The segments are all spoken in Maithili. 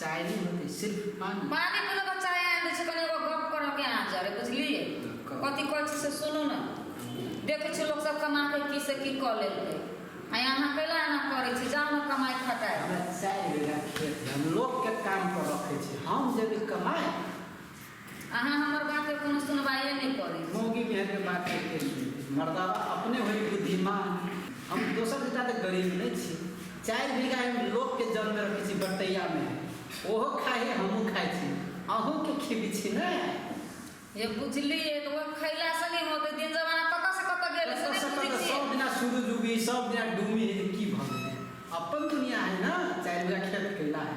चाय नहीं होती सिर्फ पानी पानी पीलो का चाय आए दे कने एगो गप करो के आ जा रे बुझलिए कथी कहै छी से सुनू ना देखे छी लोग सब कमा के की से की क लेलकै आ यहाँ कैला एना करै छी जाओ ना कमाई खटाए हमरा चाय बिना खेत हम लोग के काम पर रखे छी हम जब कमाए अहाँ हमर बात के कोनो सुनवाइए नहि करी। मौगी मेहर के बात के की सुनबै? मरदावा अपने होइ बुद्धिमान। हम दोसर से जादे गरीब नहि छी। चारि बीघा एम लोक के जल मे रखै छी बटैया मे। ओहो खाइ हे हमहूँ खाइ छी। अहूँ के खिबै छी ने। हे बुझलियै तऽ ओहे खैला से नहि होतै। दिन जमाना कतऽ से कतऽ गेल रहै से कतऽ नहि से बुझै कतऽ? छियै। सब दिना सुरुज उगै हे सब दिना डूमै हे तऽ की भऽ गेलै? अप्पन दुनिया है ने। चारि बीघा खेत कैला है।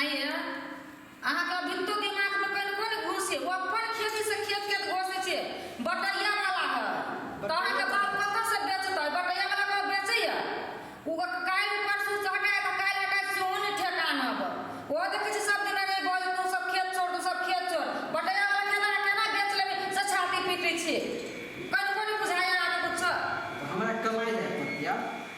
आइए अहाँके भित्तो के माथ में कनि कोन घूस छै ओ अपन खेती से खेत के घोषे छै बटैया वाला है तऽ अहाँके बाप कतऽ से बेचतै बटैया वाला के बेचैया ओ काल्हि परसू से हटाय तऽ काल्हि हटाय सेहो नहि ठेकान अब ओ देखै छी सब दिन अरे गज तू सब खेत छोड़ तू सब खेत छोड़ बटैया वाला केना केना बेच लेबै से छाती पीटै छी कनि कोन बुझाइया अहाँके कुछ हमरा कमाई जाए पड़ैया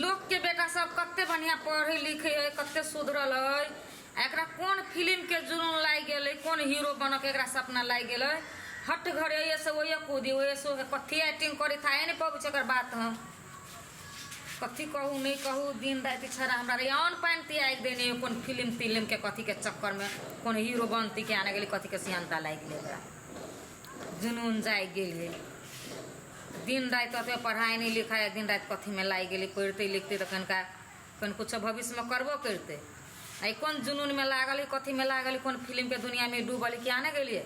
लोक के बेटा सब कते बढ़िया पढ़े लिखे है कते सुधरल है एकरा कौन फिल्म के जुनून लाग गेल है कौन हीरो बन के एकरा सपना लाग गेल है हट घर ये से वही कूदी वही से कथी एक्टिंग करे था नहीं पबू छे एकर बात हम कथी कहू नहीं कहू दिन रात छड़ा हमरा रे अन पान त्याग देने है कौन फिल्म फिल्म के कथी के चक्कर में कौन हीरो बनती के आने गेली कथी के सियानता लाग गेल एकरा जुनून जागि गेलै। दिन-राति ओतबे पढ़ाइ नहि लिखाइ आ दिन-राति कथीमे लागि गेलै। पढ़ितै-लिखितै तँ कनिका कनी किछो भविष्यमे करबो करितै। आ ई कोन जुनूनमे लागल हइ, कथीमे लागल हइ, कोन फिलिमके दुनियाँमे ई डूबल हइ, किएक ने गेलियै।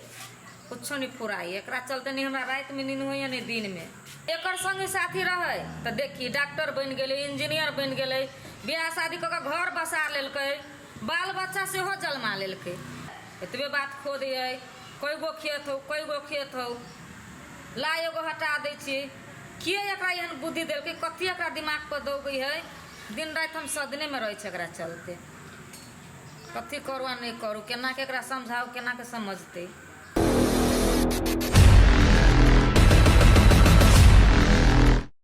किछो नहि फुराइए। एकरा चलते नहि हमरा रातिमे नीन होइए ने दिनमे। एकर संगी-साथी रहै तँ देखही, डाक्टर बनि गेलै, इंजीनियर बनि गेलै, बिआह-शादी कऽ कऽ घर बसा लेलकै। बाल-बच्चा सेहो जलमा लेलकै। एतबे बात खोद अइ। कइ गो खेत हौ, कइ गो खेत हौ। ला एगो हटा दै छियै। के एकरा एहन बुद्धि देलकै? कथी एकरा दिमाग पर दौगै हय? दिन-राति हम सदने मे रहै छियै एकरा चलते। कथी करू आ नै करू? केना के एकरा समझाउ? केना के समझतै?